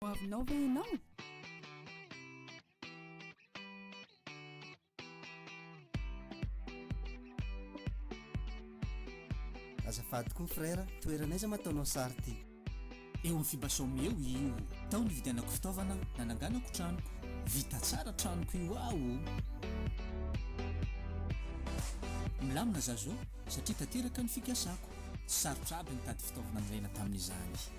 Hoavinao ve ianao? Azafady koa frère, toerana aiza ma ataonao sary ty? Eo amin'ny fiba Some eo io. Tao nividianako fitaovana nananganako tranoko. Vita tsara tranoko io aho o! Milamina za zao satria tanteraka ny fikasako. Tsy sarotra aby nitady fitaovana nilaina tamin'izany.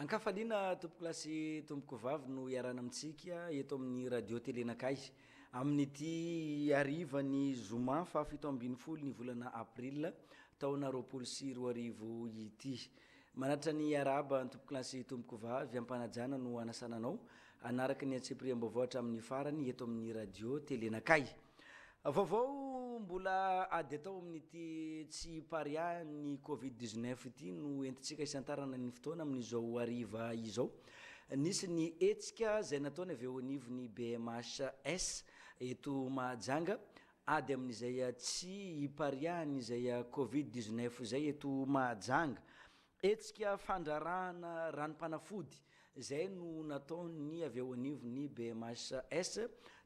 Ankafaliana tompoko lahy sy tompoko vavy no iarahana amintsika eto amin'ny radio tele nakay amin'ity ariva ny zoma fahafito ambin'ny folo ny volana aprila taona roapolo sy roa arivo ity manatra ny araba ny tompoko lahy sy tompoko vavy ampanajana no anasananao anaraka ny antsipiriam-baovao hatramin'ny farany eto amin'ny radio tele nakay Vaovao mbola ady atao amin'ity tsy pariahan'ny Covid dix neuf ity no entintsika hisantarana ny fotoana amin'izao hariva izao. Nisy ny hetsika izay nataony avy eo anivon'ny BMHS eto Mahajanga ady amin'izay tsy ipariahan'izay Covid dix neuf izay eto Mahajanga. Hetsika fandrarahana ranom-panafody izay no nataon'ny avy eo anivon'ny BMHS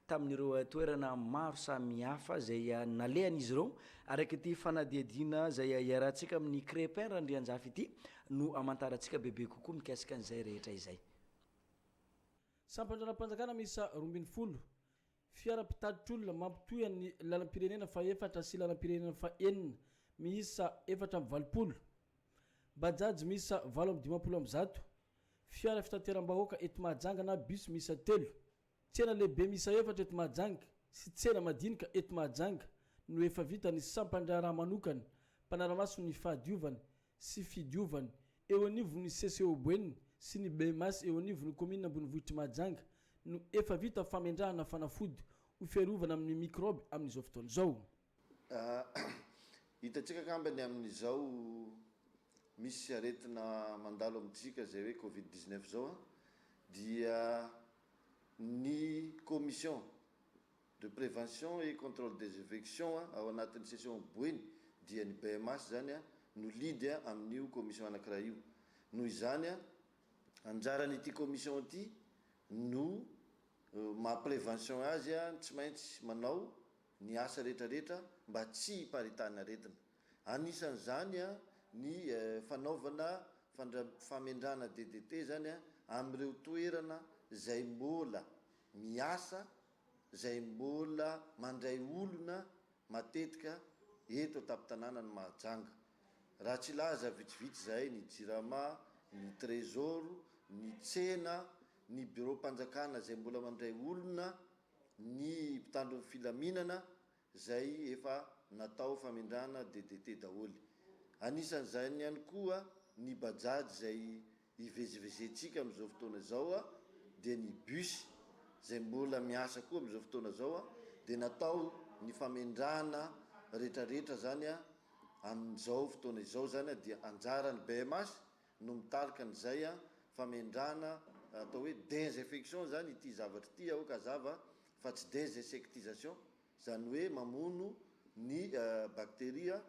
tamin'ireo toerana maro samihafa izay nalehan'izy ireo. Araka ity fanadihadiana izay iarahantsika amin'ny Crepin Randrianjafy ity no amantarantsika bebe kokoa mikasika an'izay rehetra izay. Sampan-dRalam-panjakana miisa roa ambin'ny folo Fiara mpitatitr'olona mampitohy an'ny lalam-pirenena fahefatra sy lalam-pirenena fahenina miisa efatra amby valopolo, Bajaj miisa valo amby dimampolo amby zato, fiara fitateram-bahoaka eto Mahajanga na bus miisa telo, tsena lehibe miisa efatra eto Mahajanga sy tsena madinika eto Mahajanga no efa vitan'ny sampan-draharaha manokana mpanara-maso ny fahadiovana sy fidiovana eo anivon'ny CCOBN sy ny BMAS eo anivon'ny kaominina ambonivohitr'i Mahajanga no efa vita famendrahana fanafody ho fiarovana amin'ny mikraoby amin'izao fotoana izao. Hitantsika angambany amin'izao misy aretina mandalo amintsika izay hoe covid dix neuf izao dia ny commission de prévention et contrôle des evections ao anatin'ny session boeny dia ny BMH izany no lead amin'io commission anankiray io. Noho izany, anjaran'ity commission ity no maha prévention azy ny tsy maintsy manao ny asa rehetrarehetra mba tsy hiparitahana aretina. Anisan'izany ny fanaovana famendrana DDT izany amin'ireo toerana izay mbola miasa izay mbola mandray olona matetika eto an-tampon-tanànan'i Mahajanga. Raha tsy hilaza vitsivitsy izahay, ny Jirama, ny Trésor, ny tsena, ny biraom-panjakana izay mbola mandray olona, ny mpitandro ny filaminana, izay efa natao famindrana DDT daholo. Anisan'izany ihany koa ny Bajaj izay ivezivezentsika amin'izao fotoana izao dia ny bus izay mbola miasa koa amin'izao fotoana izao dia natao ny famindrana retraretra izany amin'izao fotoana izao izany dia anjaran'ny BMH no mitarika an'izay a, famendrana, atao hoe desinfection izany ity zavatra ity aoka hazava fa tsy desinsectisation, izany hoe mamono ny bacteria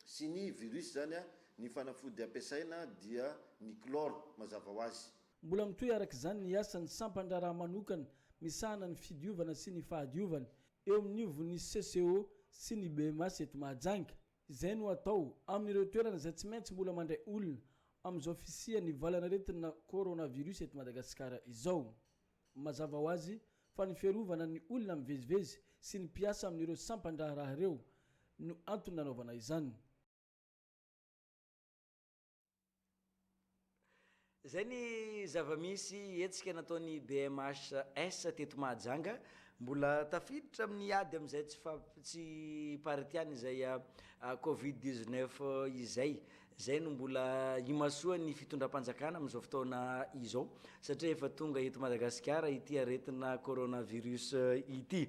sy ny virus izany a, ny fanafody ampiasaina dia ny chlore mazava ho azy. Mbola mitohy araka izany ny asan'ny sampan-draharaha manokana misahana ny fidiovana sy ny fahadiovana eo amin'ivon'ny CCO sy ny BMAS eto Mahajanga. Izay no atao amin'ireo toerana izay tsy maintsy mbola mandray olona amin'izao fisian'ny valan'aretina coronavirus eto Madagasikara izao. Mazava ho azy fa ny fiarovana ny olona mivezivezy sy ny mpiasa amin'ireo sampan-draharaha ireo no antony nanaovana izany. Izay ny zava-misy hetsika nataon'ny BMHS teto Mahajanga. Mbola tafiditra amin'ny ady amin'izay tsy fampitsi-paritiana izay Covid 19 izay. Izay no mbola imasoan'ny fitondram-panjakana amin'izao fotoana izao satria efa tonga eto Madagasikara ity aretina coronavirus ity.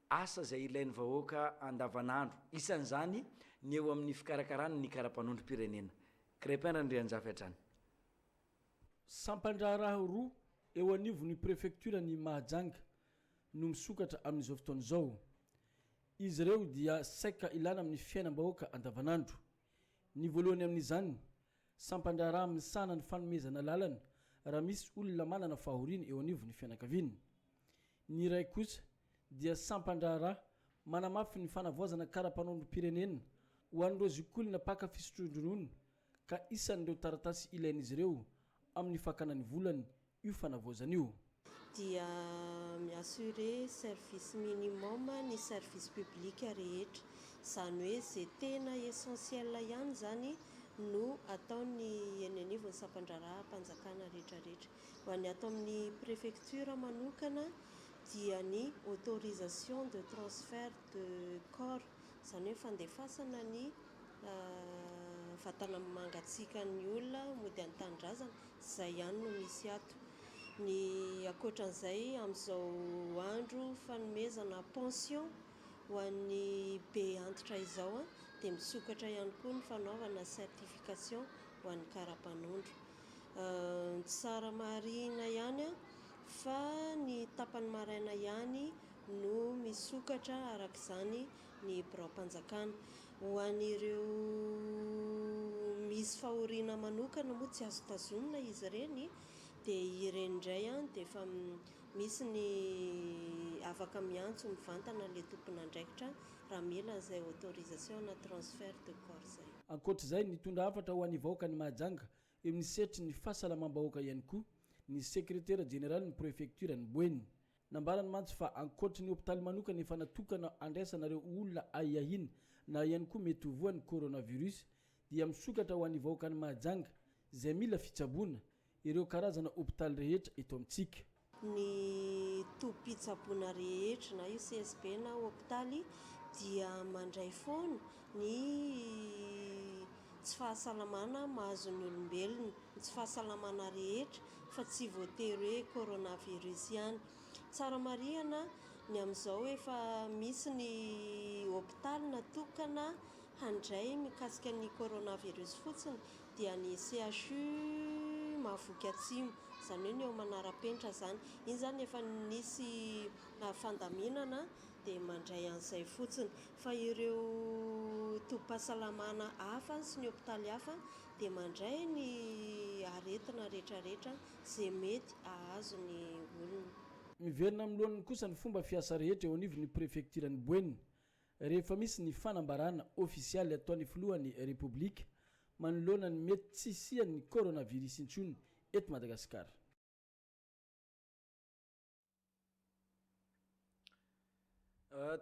asa izay ilain'ny vahoaka andavanandro, isan'izany ny eo amin'ny fikarakarana ny karapanondrom-pirenena. Crépin Randrianjafy hatrany. Sampan-draharaha roa eo anivon'ny prefektioran'i Mahajanga no misokatra amin'izao fotoana izao. Izy ireo dia saika ilana amin'ny fiainam-bahoaka andavanandro. Ny voalohany amin'izany Sampan-draharaha misahana ny fanomezana lalana raha misy olona manana fahoriana eo anivon'ny fianakaviana. Ny iray kosa dia sampan-draharaha manamafy ny fanavaozana kara-panaonim-pirenena ho an'ireo zokiolona mpaka fisotroan-dronono ka isan'ireo taratasy ilain'izy ireo amin'ny fakana ny volany io fanavaozana io. dia mi-assurer service minimum ny service public rehetra, izany hoe izay tena essentiel ihany izany no ataony eny anivon'ny sampandraharaham-panjakana rehetrarehetra. Ho an'ny ato amin'ny prefecture manokana dia ny autorisation de transfert de corps, izany hoe fandefasana ny vatana mangatsiakan'ny olona mody an-tanindrazana, Izay ihany no misy ato. Ny ankoatran'izay, amin'izao andro fanomezana pension ho an'ny be antitra izao dia misokatra ihany koa ny fanaovana certification ho an'ny kara-panondro. Tsy sara marihina ihany fa ny tapany maraina ihany no misokatra araka izany ny biraom-panjakana. Ho an'ireo misy fahoriana manokana moa tsy azo tazonina izy ireny dia ireny indray dia efa misy ny afaka miantso mivantana ilay tompon'andraikitra raha mila an'izay autorisation na transfert de corps izay. Ankoatra izay, nitondra hafatra ho an'ny vahoaka ny Mahajanga eo amin'ny sehatry ny fahasalamam-bahoaka ihany koa ny sekretera jeneralin'ny prefektioran'i Boeny, Nambarany mantsy fa ankoatry ny hopitaly manokana efa natokana handraisana ireo olona ahiahiana na ihany koa mety ho voan'ny coronavirus dia misokatra ho an'ny vahoakan'i Mahajanga izay mila fitsaboana ireo karazana hopitaly rehetra eto amintsika. Ny tobim-pitsaboana rehetra na io CSB na hopitaly dia mandray foana ny tsy fahasalamana mahazo ny olombelona, ny tsy fahasalamana rehetra fa tsy voatery hoe coronavirus ihany. Tsara marihana ny amin'izao efa misy ny hopitaly natokana handray mikasika ny coronavirus fotsiny dia ny CHU Mahavoky Atsimo, izany hoe ny ao Manarapenitra izany. Iny izany efa nisy fandaminana dia mandray an'izay fotsiny. Fa ireo tobim-pahasalamana hafa sy ny hopitaly hafa dia mandray ny aretina rehetrarehetra izay mety hahazo ny olona. Miverina amin'ny lohaniny kosa ny fomba fiasa rehetra eo anivon'ny prefektiran'i Boeny rehefa misy ny fanambarana ofisialy ataon'ny filohan'ny Repoblika manoloana ny mety tsy hisian'ny coronavirus intsony eto Madagasikara.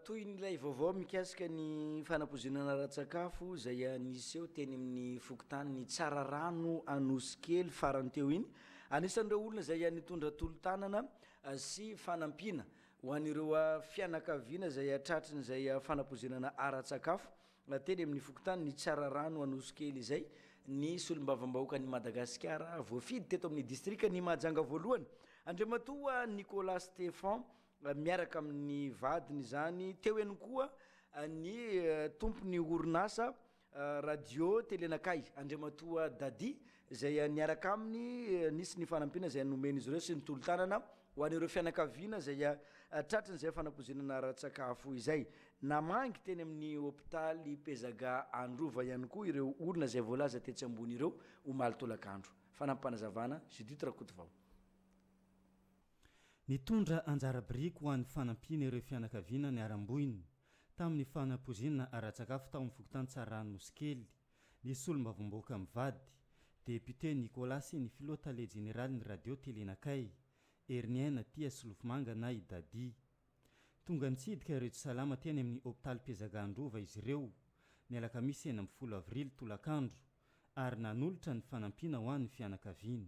Toy ny ilay vaovao mikasika ny fanapozonana ara-tsakafo izay niseho teny amin'ny fokontany Tsararano Anosikely farany teo iny, anisan'ireo olona izay nitondra tolo-tanana sy fanampiana ho an'ireo fianakaviana izay tratrin'izay fanapozonana ara-tsakafo Na teny amin'ny fokontany ny Tsararano Anosikely izay ny solombavambahoakan'i Madagasikara voafidy teto amin'ny distrikan'i Mahajanga voalohany, Andriamatoa Nicolas Stephan miaraka amin'ny vadiny izany. Teo ihany koa ny tompon'ny orinasa Radio Telenakay, Andriamatoa Dadi izay niaraka aminy, nisy ny fanampiana izay nomen'izy ireo sy ny tolo-tanana. Ho an'ireo fianakaviana izay tratrin'izay fanapoizinana ara-tsakafo izay, namangy teny amin'ny hopitaly Pezaga Androva ihany koa ireo olona izay voalaza tetsy ambony ireo, omaly tolakandro. Fanampim-panazavana, Judith Rakotovao. Nitondra anjara biriky ho an'ny fanampiana ireo fianakaviana niharam-boina tamin'ny fanapoizinana ara-tsakafo tao amin'ny fokontany Tsaranosy Kely. ny solombavambahoaka mivady, depiote Nicolas sy ny filoha tale jeneralin'ny radio Telenakay, Heriniaina Tia Solofomanga na i Dadi. Tonga nitsidika ireo tsy salama teny amin'ny hopitaly Pezaga Androva izy ireo, ny alakamisy enina ambin'ny folo avrily tolakandro, ary nanolotra ny fanampiana ho an'ny fianakaviany.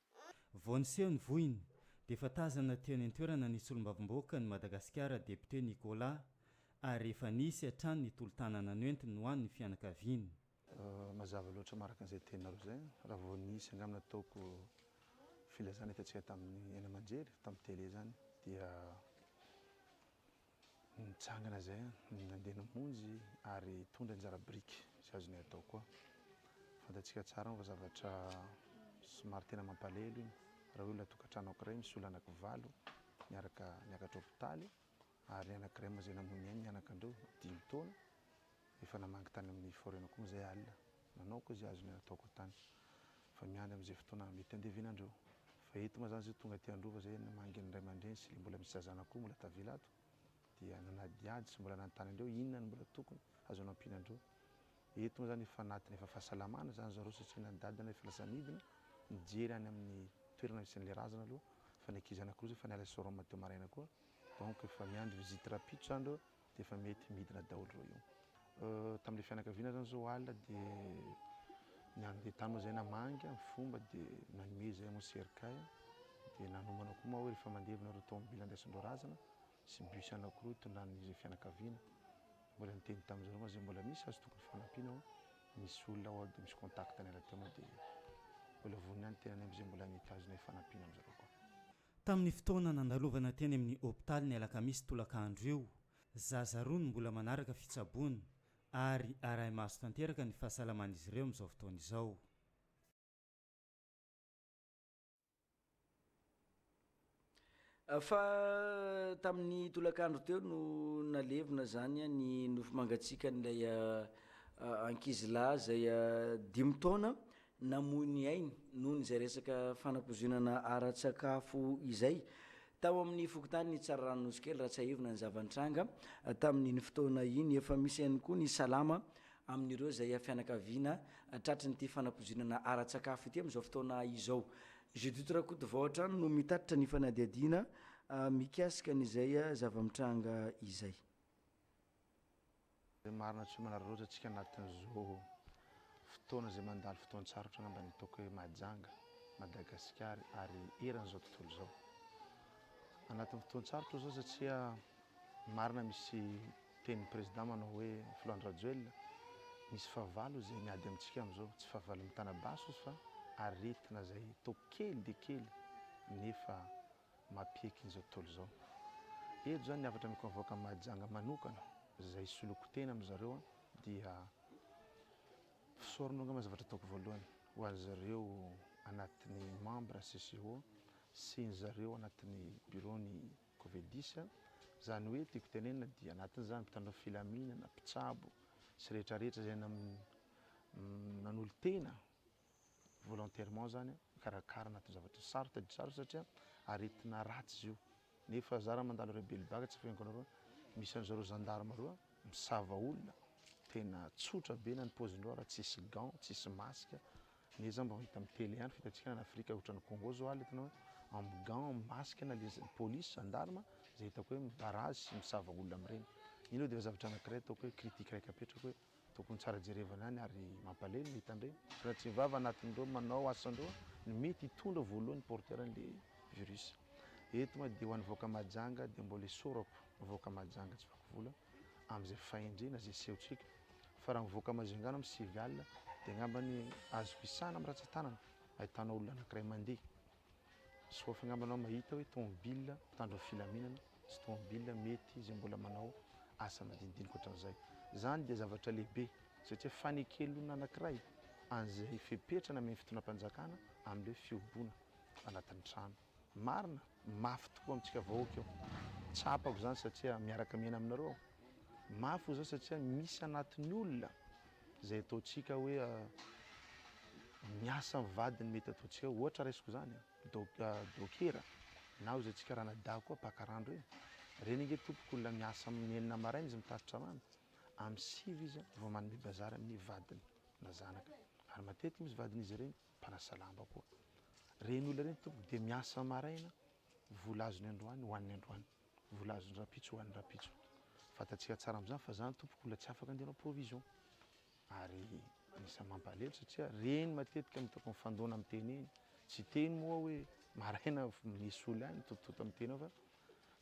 Vao niseho ny vohiny, dia efa tazana teo any an-toerana ny solombavambahoaka an'i Madagasikara Depiote Nicolas ary efa nisy hatrany ny tolo-tanana noentiny ho an'ny fianakaviany. Mazava loatra maraka an'izay teninareo izay raha vao nisy angamba nataoko filazana hitantsika tamin'ny haino aman-jery tamin'ny tele izany dia Nitsangana izay aho, nandeha namonjy ary hitondra anjara biriky izay azonay atao koa. Fantatsika tsara moa fa zavatra somary tena mampalahelo iny raha olona tokantrano anankiray misy olona anankivalo niaraka niakatra hopitaly ary ny anankiray moa izay namoy ny ainy ny anakandreo dimy taona, Efa namangy tany amin'ny Foreno koa moa izay alina. Nanao koa izay azony ataoko tany. Fa miandry amin'izay fotoana mety handevenandreo. Fa eto mazany zao tonga aty Androva izay namangy ny ray aman-dreny sy ilay mbola misy zazana koa mbola tavela ato. Dia nanadihady sy mbola nanontany andreo inona no mbola tokony azony ampiana andreo. Eto moa izany efa anatiny efa fahasalamana izany zareo satria na ny dadany efa lasa nidina nijery any amin'ny toerana misy an'ilay razana aloha fa ny ankizy anakiroa izay efa niala Soroma teo maraina koa. Donc efa miandry visite rapitro izany ireo. dia efa mety midina daholo ireo io. Tamin'ilay fianakaviana zany zao alina dia ny andeha tany moa zay namangy amin'ny fomba dia nanome izay moa cercueil dia nanomana koa moa hoe rehefa mandevina ireo tomobila andraisan-dreo razana sy bus anankiroa hitondran'izay fianakaviana. Mbola niteny tamin'ny zareo moa zay mbola misy azo tokony fanampiana ao, misy olona ao dia misy contact-ny rahateo moa dia mbola vonona ny tenany amin'izay mbola mitazona io fanampiana amin'izareo koa. Tamin'ny fotoana nandalovana teny amin'ny hopitaly ny alakamisy tolaka andro io, zaza roa no mbola manaraka fitsaboana ary arahi-maso tanteraka ny fahasalaman'izy ireo amin'izao fotoana izao. Fa tamin'ny tolakandro teo no nalevina izany ny nofo mangatsiakan'ilay ankizilahy izay dimy taona namoy ny ainy noho izay resaka fanapozonana ara-tsakafo izay tao amin'ny fokontany Tsararanonosikely raha tsiahivina ny zava-nitranga tamin'iny fotoana iny. Efa misy ihany koa ny salama amin'ireo izay fianakaviana tratrin'ity fanapozonana ara-tsakafo ity amin'izao fotoana izao. Judith Rakotovao hatrany no mitatitra ny fanadihadiana mikasika an'izay zava-mitranga izay. Izay marina tsy manararaotra antsika anatin'izao fotoana izay mandalo fotoan-tsarotra angamba ny ataoko hoe Mahajanga Madagasikara ary eran'izao tontolo izao. Anatin'ny fotoan-tsarotra izao satria marina misy tenin'ny président manao hoe filoha Andry Rajoelina misy fahavalo izay miady amintsika amin'izao, tsy fahavalo mitana basy izy fa aretina izay toa kely dia kely nefa mapiaiky an'izao tontolo izao. Eto izany ny hafatra miconvoque an'i Mahajanga manokana izay hisoloako tena amin'i zareo dia fisaorana angamba zavatra ataoko voalohany ho an'i zareo anatin'ny membre CCO sy ny zareo anatin'ny bureau ny Covedis. Izany hoe tiako tenenina dia anatin'izany mpitandro filaminana, mpitsabo sy rehetra rehetra izay nanolo-tena volontairement zany mikarakara anaty zavatra sarotra tadidio sarotra satria aretina ratsy izy io nefa za raha mandalo reo belibaka tsy fihainiko anareo misy anzao reo gendarme reo misava olona tena tsotra be na ny pozindreo raha tsisy gant tsisy masque ne za mba hita am tele ihany fitantsika any afrika otrany congo zao aly itanao am gant am masque na le police gendarme zay hitako hoe midarazy sy misava olona am reny iny eo defa zavatra anakiray ataoko hoe critique raiky apetrako hoe Tokony tsara jerevana ihany ary mampalemy ny hitandreny raha tsy vava anatin'ireo manao asan'ireo no mety hitondra voalohany porteur an'le virus. Eto ma dia ho an'i vahoaka Mahajanga dia mbola isaorako ny vahoaka Mahajanga tsy vaky vola amin'izay fahendrena izay sehontsika fa raha ny vahoaka Majunga no civil dia angambany azoko isahana amin'ny ratsan-tanana ahitana olona anankiray mandeha Soafy angamba anao mahita hoe tomobilina mpitandro filaminana sy tomobilina mety izay mbola manao asa madinidinika ohatran'izay. Izany dia zavatra lehibe satria fanekelona anankiray an'izay fepetra namen'ny fitondram-panjakana amin'ireo fihoboana anatin'ny trano. Marina, mafy tokoa amintsika vahoaka io. Tsapako izany satria miaraka miaina aminareo aho. Mafy hoy izaho satria misy anatin'ny olona Izay ataontsika hoe miasa amin'ny vadiny mety ataontsika hoe ohatra raisiko izany dokera na hoy izay antsika ranadahy koa mpaka rano ireny, ireny ange tompoko olona miasa amin'ny enina maraina izy mitatitra rano, amin'ny sivy izy vao manome bazary amin'ny vadiny na zanaka ary matetika misy vadin'izy ireny mpanasa lamba koa. Ireny olona ireny tompoko dia miasa maraina, vola azony androany hohaniny androany. Volazon-drampitso ho an'ny rampitso. Fantatsika tsara amin'izany fa izaho tompoko mbola tsy afaka handeha hanao provision. Ary anisan'ny mampalahelo satria reny matetika no hitako mifandona amin'ny teny iny. Tsy hiteny moa aho hoe maraina misy olona any mitotototo amin'ny teny ao fa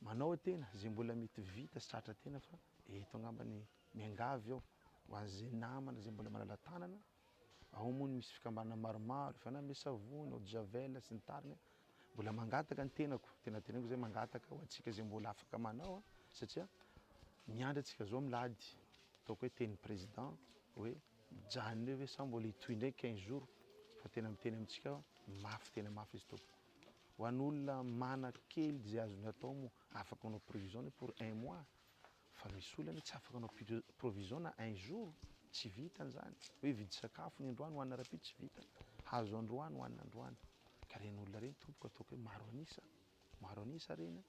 manao tena izay mbola mety vita sy tratra tena fa eto angamba ny miangavy aho ho an'izay namana izay mbola manala-tanana ao moa no misy fikambanana maromaro, efa nanome savony, eau de javel sy ny tariny aho, mbola mangataka ny tenako, tena teneniko zay mangataka ho antsika zay mbola afaka manao satria miandry antsika zao milady, ataoko hoe tenin'ny président hoe mijanona eo ve sa mbola hitohy ndray quinze jours, fa tena miteny amintsika aho mafy tena mafy izy tompoko, ho an'olona manana kely zay azony atao moa afaka manao prévision ny hoe pour un mois. Fa misy olona anie tsy afaka hanao provision na un jour, tsy vitany zany. Hoe hividy sakafo ny androany hoanina rahampitso tsy vitany. Hahazo androany hoanina androany. Ka reny olona reny tompoko ataoko hoe maro an'isa, maro an'isa reny a.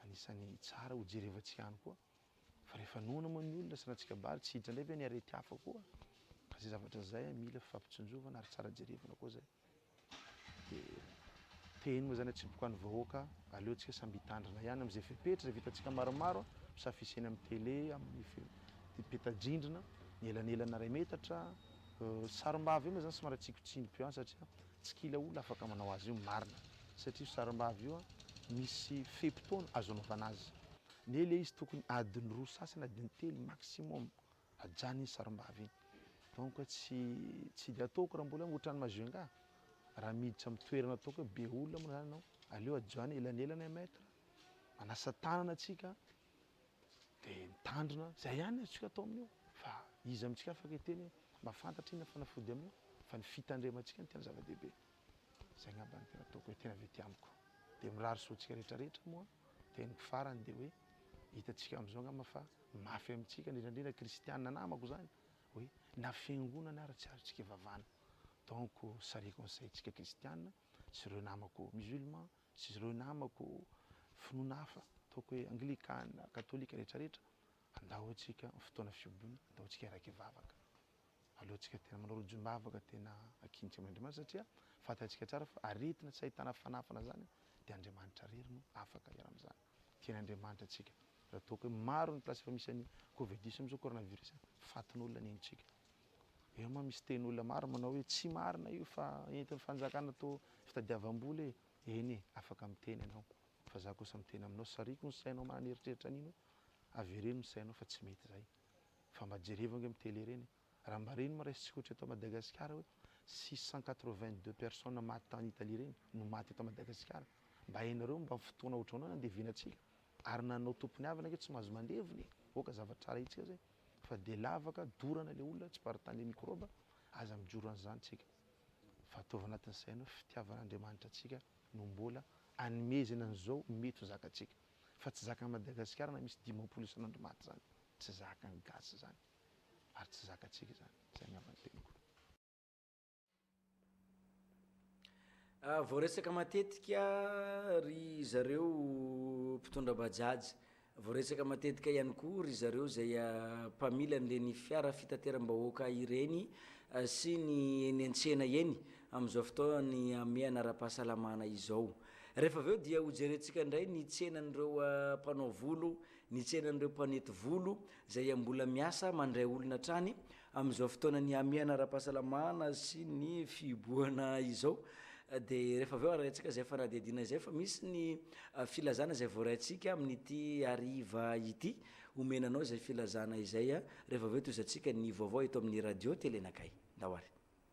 Anisany tsara ho jerevantsika ihany koa. Fa rehefa noana moa ny olona sanatria kabary tsy hiditra indray ve ny arety hafa koa. Ka zay zavatra zay mila fifampitsinjovana ary tsara jerevana koa zay. Dia tehiny moa izany atsiboka ny vahoaka, aleo tsika samby hitandrina ihany amin'izay fepetra izay vitantsika maromaro a, misafisy eny amin'ny tele, amin'ny fe, dia peta-drindrina, ny elanelana iray metatra, sarimbavy io moa izany somary atsiko tsindry be any satria tsy kila olona afaka manao azy io, marina, satria io sarimbavy io a, misy fe-potoana azo anaovana azy, nefa ilay izy tokony adiny roa sasany, adiny telo maximum. Ajanony iny sarimbavy iny. Donc hoe tsy tsy dia ataoko raha mbola ohatran'i Majunga. Raha miditra amin'ny toerana ataoko hoe be olona moa zany ianao, aleo ajanony elanelana un mètre, manasa tanana tsika de mitandrina, zay ihany no azontsika atao amin'io fa iza amintsika afaka hiteny hoe mahafantatra inona fanafody amin'io fa ny fitandremantsika no tena zava-dehibe. Zay ngamba no tena ataoko hoe tena avy aty amiko. Dia mirary soa antsika rehetra rehetra moa teniko farany dia hoe hitantsika amin'izao ngamba fa mafy amintsika indrindra indrindra kristianina namako izany hoe na fiangonana ary tsy azontsika ivavana. Donc salut conseil tsika kristianina sy ireo namako musulman sy ireo namako finoana hafa ataoko hoe anglikana, katolika rehetra rehetra andao antsika fotoana fiobona andao antsika hiaraka hivavaka. Aleontsika tena manao rojom-bavaka tena ankinitra amin'Andriamanitra satria fantantsika tsara fa aretina tsy ahitana fanafana izany dia Andriamanitra irery no afaka hiala amin'izany. Tian'Andriamanitra antsika raha toa ka hoe maro ny place efa misy an'i covidis amin'izao coronavirus a! fatin'olona ny aintsika. Eo moa misy teny olona maro manao hoe tsy marina io fa entin'ny fanjakana atao fitadiavam-bola e! eny e! afaka miteny ianao fa za kosa miteny aminao sariako ny sainao manana eritreritra an'iny hoe avereno ny sainao fa tsy mety izay. Fa mba jereva ange am tele ireny e! Raha mba ireny moa raisitsika ohatra eto Madagasikara hoe six cent quatre vingt deux personnes maty tany Italie ireny no maty eto Madagasikara. Mba hainareo mba fotoana ohatrahoana no andevenatsika? Ary na anao tompon'avana ange tsy mahazo mandevina e! Oka zavatra tsara hitsika zay fa dia lavaka, dorana le olona, tsy par tany microbe, aza mijoro an'izany tsika fa ataovy anatin'ny saina hoe fitiavan'Andriamanitra antsika no mbola anomezana an'izao mety ho zakatsika. Fa tsy zakan'i Madagasikara na misy dimampolo isan'andro maty zany. Tsy zakan'ny gasy zany. Ary tsy zakantsika izany. Zay ny havan'ny teniko. Vao resaka matetika ry zareo mpitondra bajaj, vao resaka matetika ihany koa ry zareo izay mpamily an'ireny fiara fitateram-bahoaka ireny sy ny eny an-tsena eny amin'izao fotoan'ny hamehana ara-pahasalamana izao. Rehefa avy eo dia hojerentsika indray ny tsenan'ireo mpanao volo, ny tsenan'ireo mpanety volo izay mbola miasa mandray olona hatrany amin'izao fotoana nihamehana ara-pahasalamana sy ny fihibohana izao. Dia rehefa avy eo arahintsika izay fanadihadiana izay fa misy ny filazana izay voaraintsika amin'ity hariva ity. Omena anao izay filazana izay rehefa avy eo tohizantsika ny vaovao eto amin'ny Radio Tele Nakay. Ndao ary.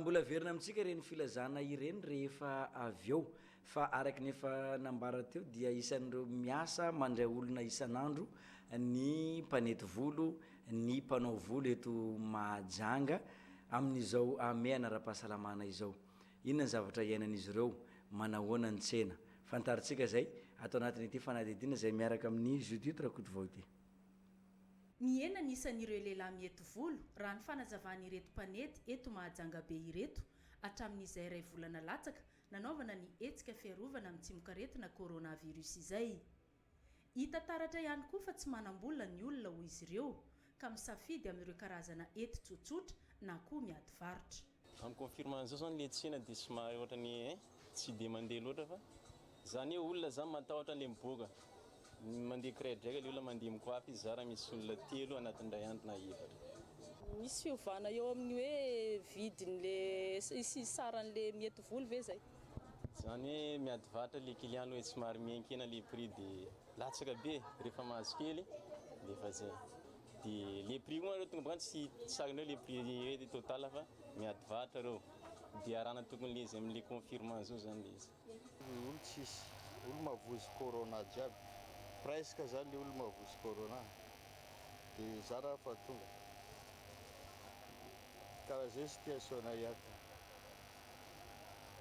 Mbola averina amintsika ireny filazana ireny rehefa avy eo fa araka ny efa nambara teo dia isan'ireo miasa mandray olona isan'andro ny mpanety volo ny mpanao volo eto Mahajanga amin'izao hamehana ara-pahasalamana izao. Inona ny zavatra iainan'izy ireo? Manahoana ny tsena? Fantarintsika izay ato anatin'ity fanadihadiana izay miaraka amin'i Judith Rakotovao ity. Nihena ny isan'ireo lehilahy mihety volo, raha ny fanazavan'ireto mpanety eto Mahajanga be ireto, hatramin'izay iray volana latsaka nanaovana ny hetsika fiarovana amin'ny tsimokaretina coronavirus izay. Hita taratra ihany koa fa tsy manam-bola ny olona hoy izy ireo, ka misafidy amin'ireo karazana hety tsotsotra na koa miady varotra. En confirmant zao zany le tsena de somary ohatrany hein tsy de mandeha loatra fa za ne olona za matahotra anle miboaka mandeha kiraidraika le olona mandeha mikoafy izy za raha misy olona telo anatin'ny ray andro na efatra. Misy fiovana eo amin'ny hoe vidin'le sy saran'le miety voly ve zay? Zany hoe miady vatra le client aloha e, somary mihenkena le prix de latsaka be e, rehefa mahazo kely de efa zay. De le prix koa nareo tompoko an tsy sarinareo le prix hoe total fa miady varotra reo de arahana tokony le izy amin le confirme anzao zany le izy. Ny olo tsisy, olo mavozo corona jiaby, presque zany le olo mavozo corona de zara fa tonga. Karaha zay sy tia Sonaia ka.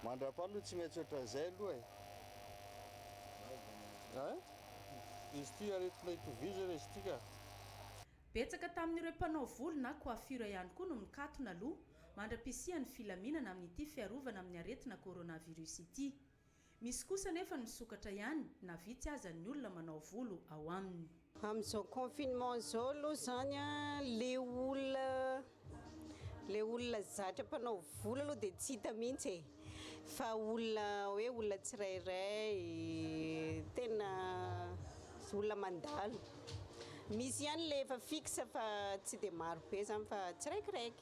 Mandrapaha aloha tsy maintsy ohatran'izay aloha e. Hein? Izy ity aretina itovizana izy ity ka. Betsaka tamin'ireo mpanao volo na coiffure ihany koa no mikatona aloha mandra-pisian'ny filaminana amin'ity fiarovana amin'ny aretina coronavirus ity. Misy kosa anefa ny misokatra ihany na vitsy aza ny olona manao volo ao aminy. Amin'izao confinement izao aloha izany a, le olona le olona zatra mpanao volo aloha dia tsy hita mihitsy e, fa olona hoe olona tsirairay tena olona mandalo. Misy ihany le efa fixe fa tsy dia maro be izany fa tsiraikiraiky.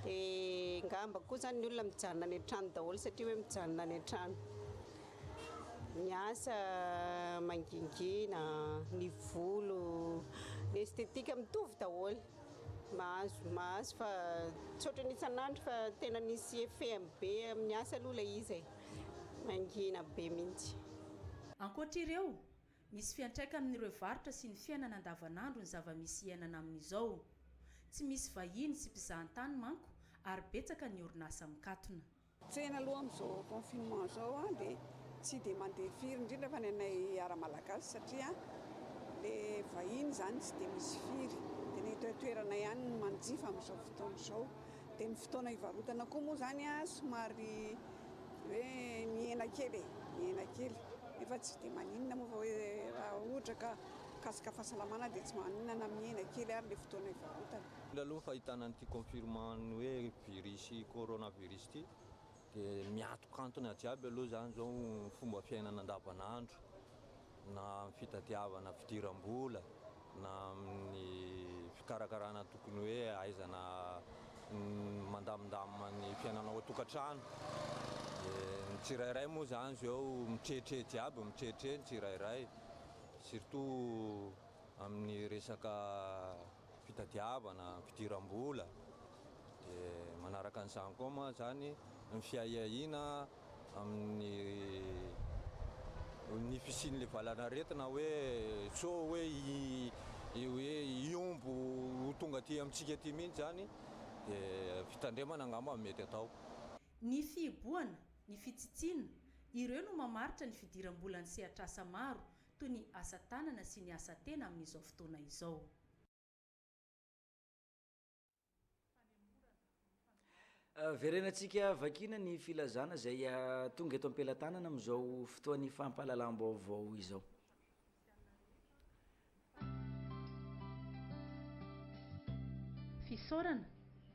Dia ngamba koa izany ny olona mijanona any an-trano daholo satria hoe mijanona any an-trano. Ny asa mangingina, ny volo, ny esthétique mitovy daholo. Mahazo mahazo fa tsy ohatran'ny isan'andro fa tena misy effet-ny be amin'ny asa aloha ilay izy e. Mangina be mihitsy. Ankoatra ireo, Misy fiantraika amin'ireo varotra sy ny fiainana andavanandro ny zava-misy iainana amin'izao. Tsy misy vahiny sy mpizahantany manko ary betsaka ny orinasa mikatona. Tsena aloha amin'izao confinement izao dia tsy dia mandeha firy, indrindra fa ny anay ara-malagasy satria ilay vahiny izany tsy dia misy firy. Dia ny eto an-toerana ihany no manjifa amin'izao fotoana izao. Dia ny fotoana hivarotana koa moa izany somary hoe mihena kely e, mihena kely nefa tsy dia maninona moa fa hoe raha ohatra ka mikasika fahasalamana dia tsy maninona na mihena kely ary ilay fotoana hivarotana. Aloha ny fahitana an'ity confirmant ny hoe virus coronavirus ity Dia miantokantona jiaby aloha izany izao ny fomba fiainana andavanandro, na amin'ny fitadiavana fidiram-bola, na amin'ny fikarakarana tokony hoe ahaizana mandamindamina ny fiainana ao an-tokantrano. Dia ny tsirairay moa izany izao mitrehitrehitra jiaby, mitrehitrehitra ny tsirairay, surtout amin'ny resaka. fitadiavana, fidiram-bola, dia manaraka an'izany koa moa izany ny fiahiahiana amin'ny ny fisian'ilay valanaretina hoe sao hoe hoe hihombo ho tonga aty amintsika aty mihitsy izany dia fitandremana angamba no mety atao. Ny fihibohana, ny fitsitsiana, ireo no mamaritra ny fidiram-bolan'ny sehatr'asa maro toy ny asa tanana sy ny asa tena amin'izao fotoana izao. Verenantsika vakina ny filazana izay tonga eto am-pelatanana amin'izao fotoan'ny fampahalalam-baovao izao. Fisaorana.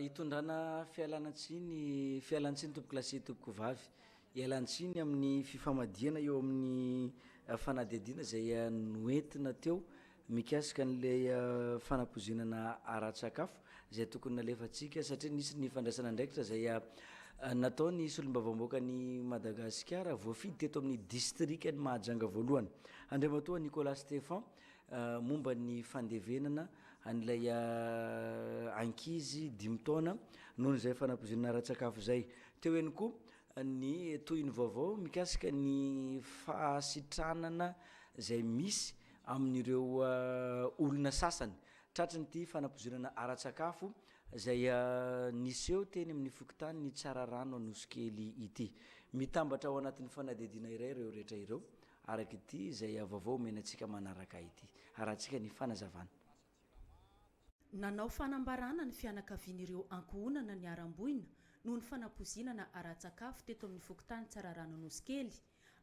Hitondrana fialana tsiny, fialan tsiny tompoko lahy sy tompoko vavy, hialan tsiny amin'ny fifamadihana eo amin'ny fanadihadiana izay noentina teo mikasika anle fanapoizinana ara tsakafo izay tokony nalefantsika satria nisy ny fandraisana andraikitra izay natao ny solombavambaoaka ny Madagasikara voafidy teto amin'ny distrikan'i Mahajanga voalohany Andriamatoa Nicolas Stephan momba ny fandevenana an'ilay ankizy dimy taona noho izay fanapozonana ara-tsakafo izay. Teo ihany koa ny tohin'ny vaovao mikasika ny fahasitranana izay misy amin'ireo olona sasany tratry ny ity fanapozonana ara-tsakafo izay niseho teny amin'ny fokontany Tsararano Anosikely ity. Mitambatra ao anatin'ny fanadihadiana iray ireo rehetra ireo araka ity izay vaovao omena antsika manaraka ity. Harahantsika ny fanazavana. Nanao fanambarana ny fianakavian'ireo ankohonana niharam-boina noho ny fanapoizinana ara-tsakafo teto amin'ny fokontany Tsararano Anosikely,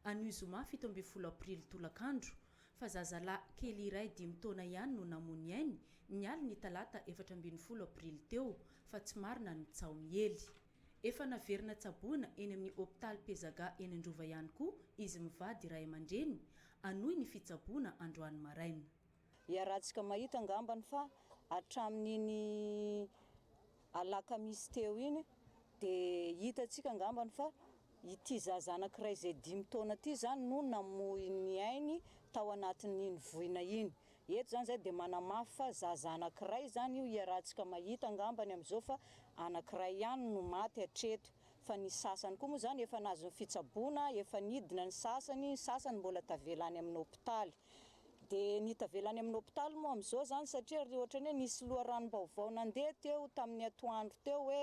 anio zoma fito ambin'ny folo aprily tolakandro, fa zazalahy kely iray dimy taona ihany no namoy ny ainy, ny alin'ny talata efatra ambin'ny folo aprily teo, fa tsy marina ny tsaho miely. Efa naverina tsaboina eny amin'ny hopitaly Pezaga eny Androva ihany koa izy mivady ray aman-dreny, hanohy ny fitsaboana androany maraina. Iarahantsika mahita angambany fa hatramin'iny alakamisy teo iny dia hitantsika angambany fa ity zaza anankiray izay dimy taona ity izany no namoy ny ainy tao anatin'iny voina iny. Eto izany izay dia manamafy fa zaza anankiray izany io iarahantsika mahita angambany amin'izao fa anankiray ihany no maty hatreto fa ny sasany koa moa izany efa nahazo ny fitsaboana, efa nidina ny sasany, ny sasany mbola tavela any amin'ny hopitaly. Dia ny tavela any amin'ny hopitaly moa amin'izao izany satria ry ohatran'ny hoe nisy loharanom-baovao nandeha teo tamin'ny atoandro teo hoe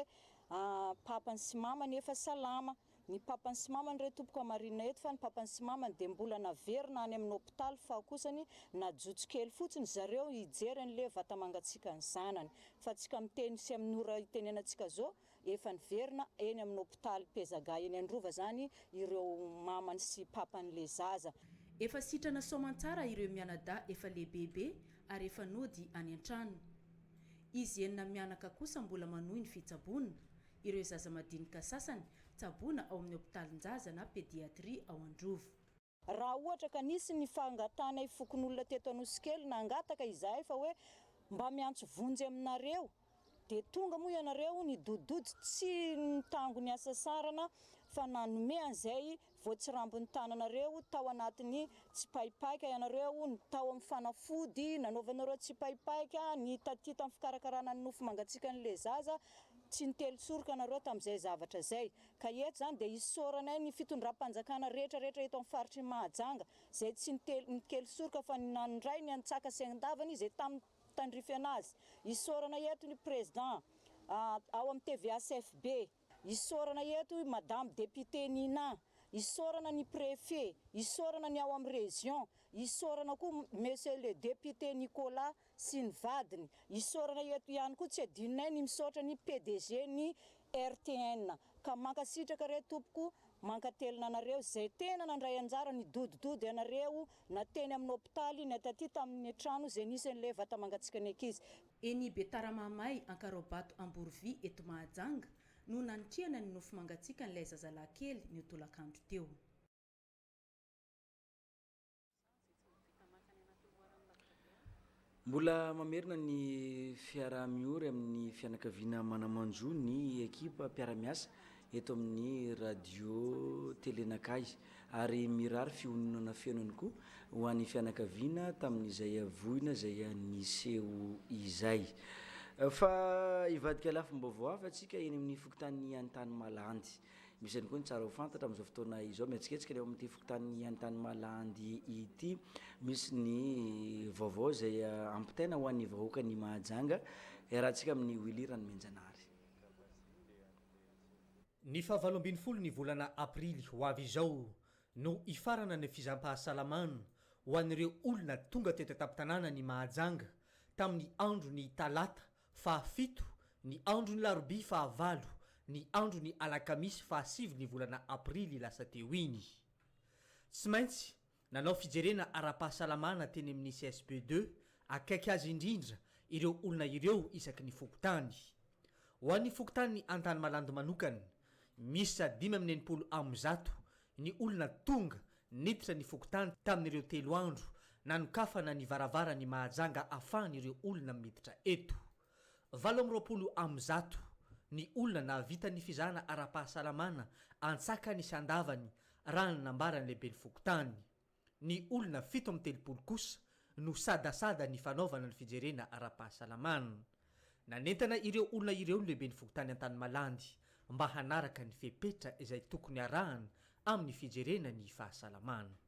papany sy mamany efa salama. ny papany sy mamany re tompoko hamarinina eto fa ny papany sy mamany dia mbola naverina any amin'ny hopitaly faho kosany najotso kely fotsiny zareo hijery an'le vatamangatsiakan'ny zanany fa tsy ka miteny sy amin'ny ora itenenantsika zao efa niverina eny amin'ny hopitaly pezaga eny androva zany ireo mamany sy papan'le zaza. Efa sitrana soamantsara ireo mianadahy efa lehibebe ary efa nody any an-trano. Izy enina mianaka kosa mbola manohy ny fitsaboana, Ireo zaza madinika sasany tsaboina ao amin'ny hopitalinjaza na pédiatrie ao Androvo. Raha ohatra ka nisy ny fangatahanay fokonolona teto Anosikely nangataka izahay fa hoe mba miantso vonjy aminareo dia tonga moa ianareo nidodidody tsy nitango ny hasasarana fa nanome an'izay Voatsirambin'ny tananareo tao anatin'ny tsipaipaika ianareo, ny tao amin'ny fanafody nanaovanareo tsipaipaika, ny taty tamin'ny fikarakarana ny nofo mangatsiakan'ilay zaza, tsy nitely soroka ianareo tamin'izay zavatra izay. Ka eto izany dia isaoranay ny fitondram-panjakana rehetra rehetra eto amin'ny faritr'i Mahajanga izay tsy nitely nikely soroka fa nandray ny antsaka sy andavany izay tamin'ny tandrify anazy. Isaoranay eto ny Président ao amin'ny tvhfb. Isaorana eto i Madame Député Nina, isaorana ny Préfet, isaorana ny ao amin'ny Région, isaorana koa Monsieur le Député Nicolas sy ny vadiny, isaorana eto ihany koa tsy adinonay ny misaotra ny PDG ny RTN, ka mankasitraka re tompoko, mankatelina anareo izay tena nandray anjara nidodododo ianareo na teny amin'ny hopitaly na taty tamin'ny trano Zenith sy an'ilay vatamangatsiaka ny ankizy. Eny Betaramamay, Ankaraobato Amborovy eto Mahajanga no nanitrihana ny nofy mangatsiakan'ilay zazalahy kely ny tolakandro teo. Mbola mamerina ny fiaraha-miory amin'ny fianakaviana manaman-jo ny ekipa mpiara-miasa eto amin'ny Radio Télé Nakay ary mirary fihononana feno ihany koa ho an'ny fianakaviana tamin'izay voina izay niseho izay. Fa hivadika lafim-baovao hafa antsika eny amin'ny fokontany Antanimalandy. Misy ihany koa ny tsara ho fantatra amin'izao fotoana izao mihetsiketsika ny ao amin'ity fokontany Antanimalandy ity. Misy ny vaovao izay ampitaina ho an'ny vahoakan'i Mahajanga. Iarahantsika amin'i Willy Ranomenjanahary. Ny fahavalo ambin'ny folo ny volana aprily ho avy izao no hifarana ny fizampahasalamana ho an'ireo olona tonga teto an-tampon-tanànan'i Mahajanga tamin'ny andron'ny talata faha fito, ny andron'ny larobia faha valo, ny andron'ny alakamisy faha sivy ny volana aprily lasa teo iny. Tsy maintsy Nanao fijerena ara-pahasalamana teny amin'ny CSB deux akaiky azy indrindra ireo olona ireo isaky ny fokontany. Ho an'ny fokontany Antanimalandy manokana, miisa dimy amby enimpolo amby zato ny olona tonga niditra ny fokontany tamin'ireo telo andro nanokafana ny varavaran'i Mahajanga ahafahan'ireo olona miditra eto. Valo amby roapolo amin'ny zato ny olona nahavita ny fizahana ara-pahasalamana an-tsakany sy an-davany raha ny nambaran'ny lehiben'ny fokontany. Ny olona fito amin'ny telopolo kosa no sadasada ny fanaovana ny fijerena ara-pahasalamana. Nanentana ireo olona ireo ny lehiben'ny fokontany Antanimalandy mba hanaraka ny fepetra izay tokony arahana amin'ny fijerena ny fahasalamana.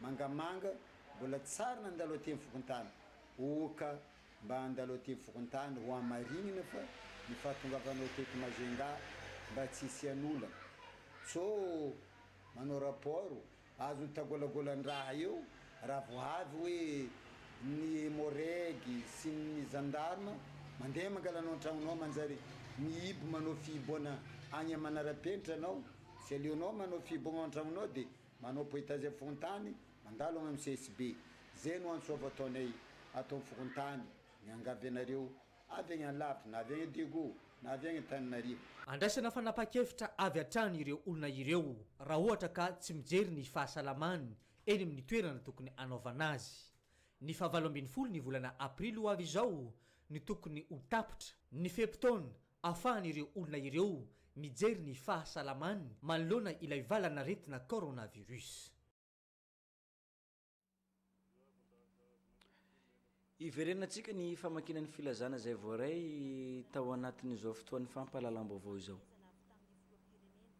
Mangamanga, Mbola tsy sary nandalo aty amin'ny fokontany. Oka, Mba andalo aty amin'ny fokontany ho hamarinina fa ny fahatongavanao teto Majunga mba tsy hisian'olana. Cho, Manao rapport, azon'ny tagolagolan-draha eo raha vao avy hoe ny Emmo-Reg sy ny Gendarme mandeha mangala anao an-tragnonao manjary mihibo manao fihiboana agny aman'ara-penitra anao. Tsy aleonao manao fihiboagna ao an-tragnonao dia Manao poetas eo fokontany, mandalo any amin'ny CSB. Zay no antso avo ataonay ato amin'ny fokontany. Miangavy anareo, avy any alavitra, na avy any Diego, na avy any Antananarivo. Andraisana fanapahan-kevitra avy hatrany ireo olona ireo raha ohatra ka tsy mijery ny fahasalamany eny amin'ny toerana tokony hanaovana azy. Ny fahavalo ambin'ny folo ny volana Aprily ho avy izao no tokony ho tapitra ny fe-potoana ahafahan'ireo olona ireo mijery ny fahasalamany manoloana ilay valan'aretina coronavirus. Hiverenantsika ny famakiana ny filazana izay voaray tao anatin'izao fotoan'ny fampahalalam-baovao izao.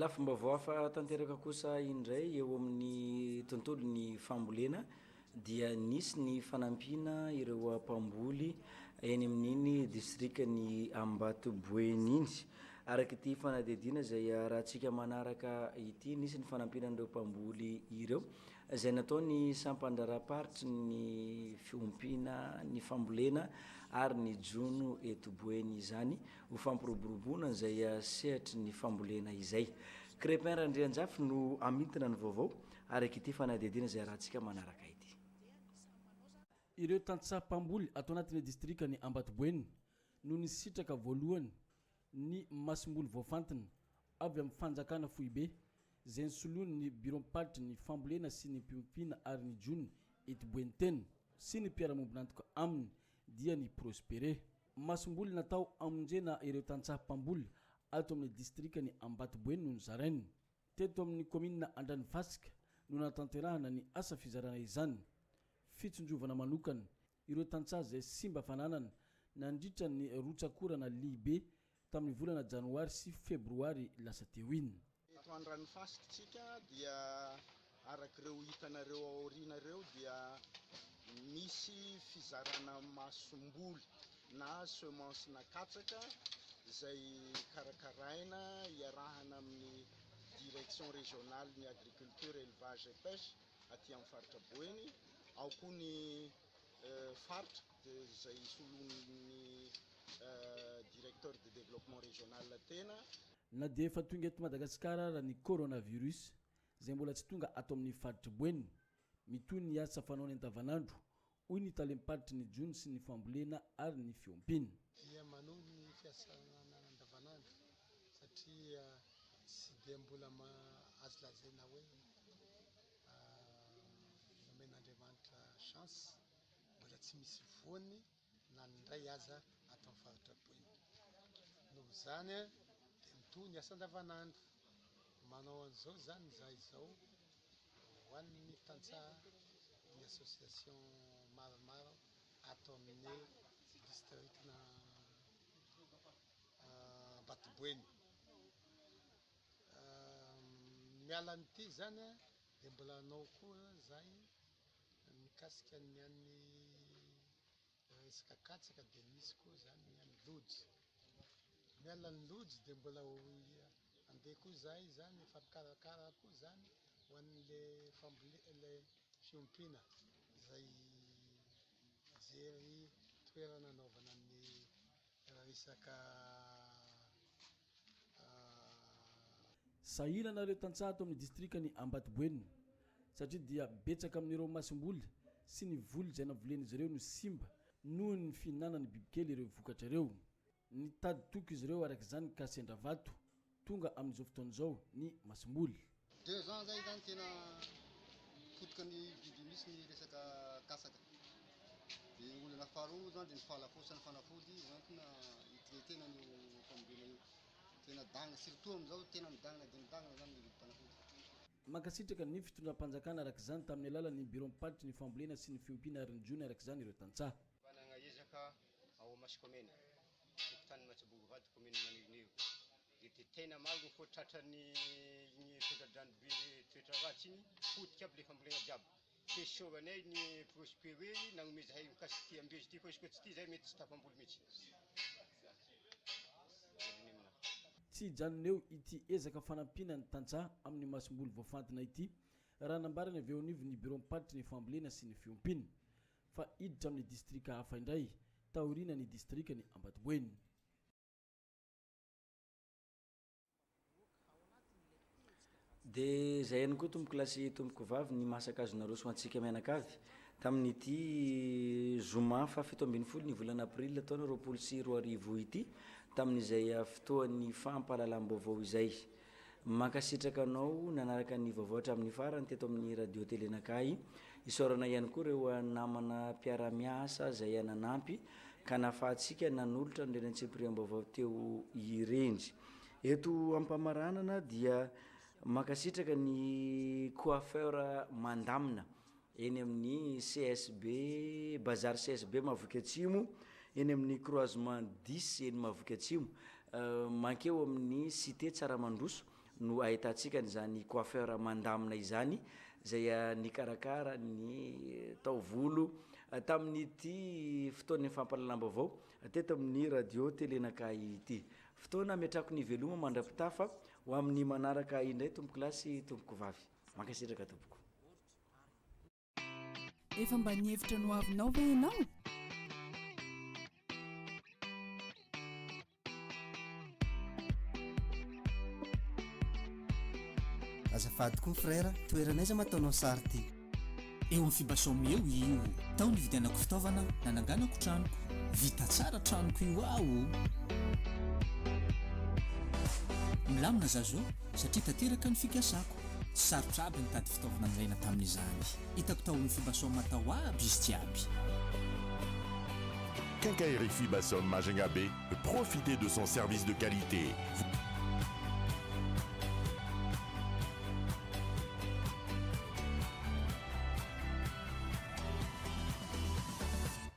Lafim-baovao hafa tanteraka kosa indray eo amin'ny tontolon'ny fambolena dia nisy ny fanampiana ireo mpamboly eny amin'iny distrikan'i Ambatoboeny iny. Araka ity fanadihadiana izay arahantsika manaraka ity, nisy ny fanampiana an'ireo mpamboly ireo. izay nataon'ny sampan-draharaham-paritry ny fiompiana ny fambolena ary ny jono eto Boeny izany ho fampiroboroboana izay sehatry ny fambolena izay. Crépin Randrianjafy no hamintina ny vaovao araka ity fanadihadiana izay arahantsika manaraka ity. Ireo tantsaha mpamboly ato anatin'ny distrikan'i Ambatoboeny no nisitraka voalohany ny masomboly voafantina avy amin'ny fanjakana foibe izay nosoloiny ny biraom-paritry ny fambolena sy ny mpiompina ary ny jono eto Boentena sy ny mpiara-mombon'antoka aminy dia ny Prospere, masomboly natao hamonjena ireo tantsaha mpamboly ato amin'ny distrikan'i Ambatoboeny no nozarainy. Teto amin'ny kaominina Andranofasika no nahatanterahana ny asa fizarana izany, fitsinjovana manokana Ireo tantsaha izay simba fananana nandritra ny rotsak'orana lehibe tamin'ny volana janoary sy febroary lasa teo iny. Eto an-dranofasiktsika dia araka ireo hitanareo ao aoriana ireo dia misy fizarana masomboly na semence-na katsaka izay karakaraina iarahana amin'ny direction régionale ny agriculture, élevage et pêche. aty amin'ny faritra Boeny, ao koa ny faritra dia izay soloin'ny directeur de développement régional tena. Na dia efa tonga eto Madagasikara ara ny coronavirus, izay mbola tsy tonga ato amin'ny faritr'i Boeny, mitohy ny asa fanaony andavanandro, hoy ny tale miparitry ny jono sy ny fambolena ary ny fiompiana. Miha manongy ny fiasana andavanandro satria tsy dia mbola azo lazaina hoe nomen'Andriamanitra chance, mbola tsy misy voany na ny indray aza ato amin'ny faritra Boina. Noho izany dia mitohy ny asa andavanandro. Manao an'izao izany izahay izao Ho an'ny tantsaha ny association maromaro ato amin'ny districtna Ambatoboeny. Miala an'ity izany dia mbola hanao koa izahay mikasika ny an'ny. Raha resaka katsaka dia misy koa izany ny an'ny lojy. Miala ny lojy dia mbola ho andeha koa izahay izany, efa mikarakara koa izany ho an'ilay fambolena, ilay fiompiana izay mijery toerana anaovana ny resaka. Sahirana ireo tantsaha ato amin'ny distrikan'i Ambatoboenina satria dia betsaka amin'ireo masomboly sy ny voly izay navolen'izy ireo no simba noho ny fihinanan'ny bibikely ireo vokatra ireo. Nitady toky izy ireo araka izany ka sendra vato tonga amin'izao fotoana izao ny masomboly. Deux ans zay zany tena potika ny biby misy ny resaka katsaka. Dia ny olana faharoa zany dia ny fahalafosan'ny fanafody hoentina hi-traiter-na an'io famonoana io. Tena dangana, surtout amin'izao tena midangana dia midangana zany ny vidim-panafody. Mankasitraka ny fitondram-panjakana araka izany tamin'ny alalan'ny biraom-paritry ny fambolena sy ny fiompiana ary ny jono araka izany ireo tantsaha. Manana ezaka ao Masikômena, fokontany Matsibongo Vady, kaominina Maninonio, Dia dia tena maro ny koa tratran'ny iny tondra-dranobe toetra ratsy iny, potika aby ilay fambolena jiaby. Tsy esoranay ny prosper hoe nanome zahay mikasika ity ambolezy ity fa izy koa tsy tia zahay mety tsy tafamboly mihitsy. Tsy hijanona eo ity ezaka fanampiana ny tantsaha amin'ny masomboly voafantina ity, raha nambarany avy eo anivon'ny biraom-paritry ny fambolena sy ny fiompiana, fa hiditra amin'ny distrika hafa indray, taorianan'ny distrikan'i Ambatoboeny. Dia izay ihany koa tompoko lahy sy tompoko vavy ny maha sank'azy naroso ho antsika mianakavy tamin'ity zoma fahafito ambin'ny folo ny volana aprily taona roapolo sy roa arivo ity tamin'izay fotoan'ny fampahalalam-baovao izay. Mankasitraka anao nanaraka ny vaovao hatramin'ny farany teto amin'ny Radio Télé Nakahy. Isaorana ihany koa ireo namana mpiara-miasa izay nanampy ka nahafahantsika nanolotra an'ireny antsipiriam-baovao teo ireny. Eto am-pamaranana dia mankasitraka ny coiffeur mandamina eny amin'ny CSB, Bazary CSB Mahaviky Atsimo, eny amin'ny Croisement dix eny Mahaviky Atsimo, mankeo amin'ny Cité Tsaramandroso no ahitantsika an'izany coiffeur mandamina izany izay nikarakara ny taovolo tamin'ity fotoan'ny fampahalalam-baovao teto amin'ny Radio Télé Nakahy ity. Fotoana ametrahako ny veloma mandra-pitafa ho amin'ny manaraka indray Tompokolahy sy Tompokovavy. Mankasitraka Tompoko. Efa mba nihevitra ny ho avinao ve ianao? Azafady koa frère, toerana aiza ma ataonao sary ty? Eo amin'ny Fibasom eo io. Tao nividianako fitaovana nananganako tranoko. Vita tsara tranoko io aho o! Milamina za zo. satria tanteraka ny fikasako. Tsy sarotra aby nitady fitaovana nilaina tamin'izany. Hitako tao amin'ny Fibasom tao aby izy jiaby. Quincaillerie Fibasom Majunga Bay, profitez de son service de qualité.